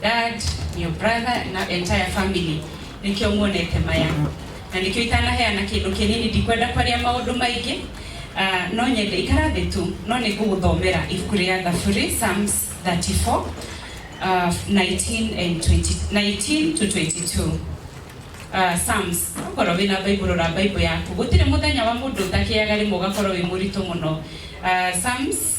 dad, your brother na entire family nikio muonete maya na nikio itanaheana kindu kinini ndikwenda kwaria maundu maingi Ah, no nyende ikara thĩ tu no nĩ ngũgũthomera ibuku rĩa thaburi psalms 34 ah, 19 and 20 19 to 22 Ah, psalms okorwo wĩna bible rora bible yaku gũtirĩ mũthenya wa mũndũ ũtakĩaga rĩmwe ũgakorwo wĩ mũritũ mũno Ah, psalms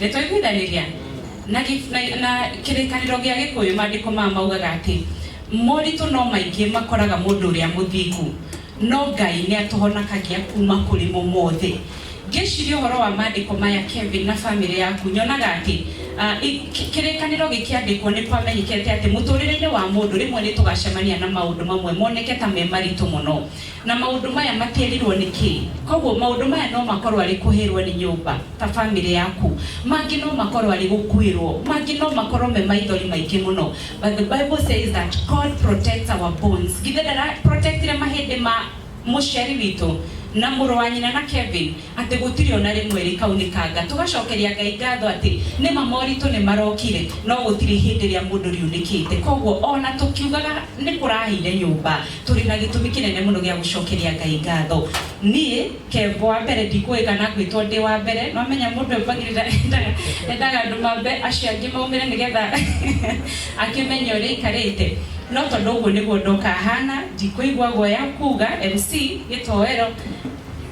nĩ twaiguithanĩria na gĩ- na- na kĩrĩkanĩro gĩa gĩkũyũ maandĩko maya maugaga atĩ moritũ no maingĩ makoraga mũndũ ũrĩa mũthingu no ngai nĩ atũhonakagia kuma kũrĩ mo mothe ngĩciria ũhoro wa maandĩko maya kevin na bamĩrĩ yaku nyonaga atĩ ah, i- kĩ- kĩrĩkanĩro gĩkĩandĩkwo nĩ kwamenyekete atĩ mũtũrĩre-inĩ wa mũndũ rĩmwe nĩ tũgacemania na maũndũ mamwe moneke ta me maritũ mũno Na maũndũ maya makĩrirwo nĩ kĩĩ? Kwoguo maũndũ maya no makorũo arĩ kũhĩrũo nĩ nyũmba, ta famĩlĩ yaku. Mangĩ no makorũo arĩ gũkuĩrũo. Mangĩ no makorũo me maithori maingĩ mũno. But the Bible says that God protects our bones. Githĩ ndara protectire mahĩndĩ ma mũciari witũ, na mũrũ wa nyina, na Kevin? Atĩ gũtirĩ o na rĩmwe rĩkaunĩkanga. Tũgacokeria Ngai ngatho atĩ nĩ ma moritũ nĩ marokire, no gũtirĩ hĩndĩ rĩa mũndũ riunĩkĩte. Kwoguo o na tũkiugaga nĩ kũrahĩire nyũmba, tũrĩ na gĩtũmi kĩnene mũno gĩa gũcokeria Ngai ngatho. Niĩ, Kev, wa mbere, ndikũũĩ kana ngwĩtwo ndĩ wa mbere, no menya mũndũ ũyũ mbagĩrĩra endaga, endaga andũ mambe acio angĩ maumĩre nĩ getha akĩmenye ũrĩa aikarĩte. No tondũ ũguo nĩguo ndoka haana, ndikũigua guoya kuuga MC, gĩtoero.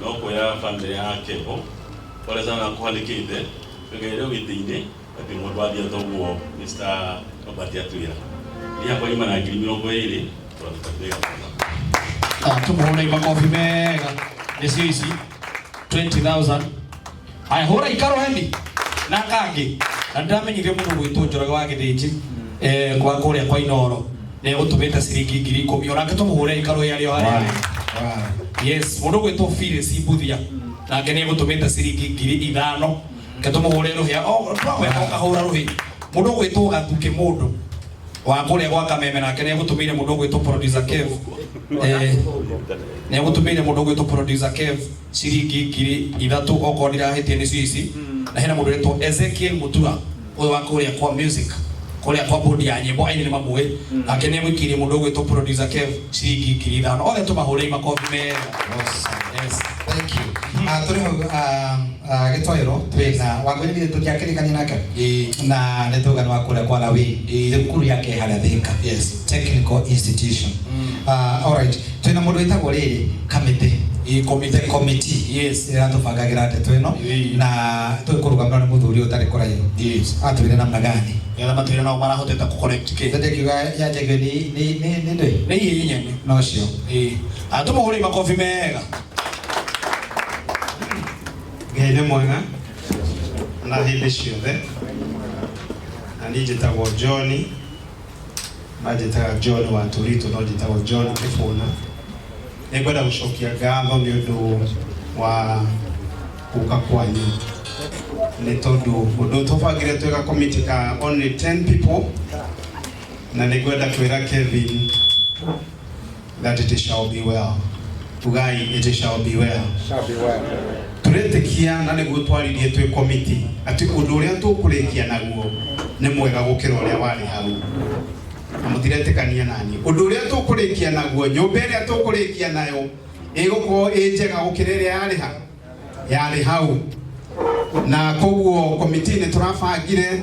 no kuoya family yake bo pole sana kuhalikite tugeire witini ati mundu athia toguo Mr. Robert atwira ni akwa ima na ngiri mirongo iri turatutambia Ah, tumuhũrei makobi mega nĩcio ici 20000 haya hura ikaro hendi na kangi na ndiramenyithio mũndũ gwitũ njoroge wa gĩthĩnji eh, kwa kũrĩa kwa inoro nĩ gũtũmĩte ciringi ngiri ikũmi onake tũmũhũre ikaro ĩarĩ o harĩa yes mũndũ gwitũ bire cimbuthia nake nĩ gũtũmĩte ciringi ngiri ithano ke tũmũhũre rũhĩa o twagweka ũkahũra rũhĩ mũndũ gwitũ gathuke mũndũ wa kũrĩa gwa kameme nake nĩ gũtũmĩire mũndũ gwitũ producer kev eh, nĩ gũtũmĩire mũndũ gwitũ producer kev ciringi ngiri ithatũ okorwo ndirahĩtia nĩcio ici na hena mũndũ wĩtwo Ezekiel Mutura ũyũ wa kũrĩa kwa music kũrĩa kwa bodi ya nyĩmbo aini nĩ mamũĩ nake nĩ egwĩkirie mũndũ ũgwĩtwo producer Kev ciringi ngiri ithano othe tũmahũrei makobi mega yes thank you Ah, tũrĩ hau ah, ah, gĩtoero twĩ na wangũi nĩ tũtiakĩrĩkania nake na nĩ tũgana wa kũrĩa kwa nawi thukuru yake harĩa thika yes technical institution Ah, all right twina mundu witagwo riri kamite Ĩ komite. the committee Yes. iratubangagĩra ndeto ĩno Ĩĩ. na tũkũrũgamĩrwo nĩ mũthuri ũyũ ũtarĩ kũraihu Yes. atwĩre namna gani Nĩgetha matwĩre nao marahotete kũkoreki kĩ. Sasa kiuga ya jege ni ni ni ni ndoi Nĩ iye inyene. no cio Ĩ. Atũmũhũrei makobi mega. ngai nĩ mwega na hĩndĩ ciothe na niĩ njĩtagwo johni manjĩtaga john wa tũritũ no njĩtagwo john kĩbũna nĩ ngwenda gũcokia ngatho nĩ ũndũ wa gũka kwanyu nĩ tondũ ũndũ tũbangire twĩga komiti ka only 10 people na nĩ ngwenda kwĩra kevin that it shall be well ugai it shall be well Shall be well. turetekia na nĩguo twaririe twĩ komiti atĩ ũndũ ũrĩa tũkũrĩkia naguo nĩ mwega gũkĩra ũrĩa warĩ hau na mũtiretĩkania naniĩ ũndũ ũrĩa tũkũrĩkia naguo nyũmba ĩrĩa tũkũrĩkia nayo ĩgũkorwo ĩ njega gũkĩra ĩrĩa yarĩ ha yarĩ hau na koguo komiti nĩ tũrabangire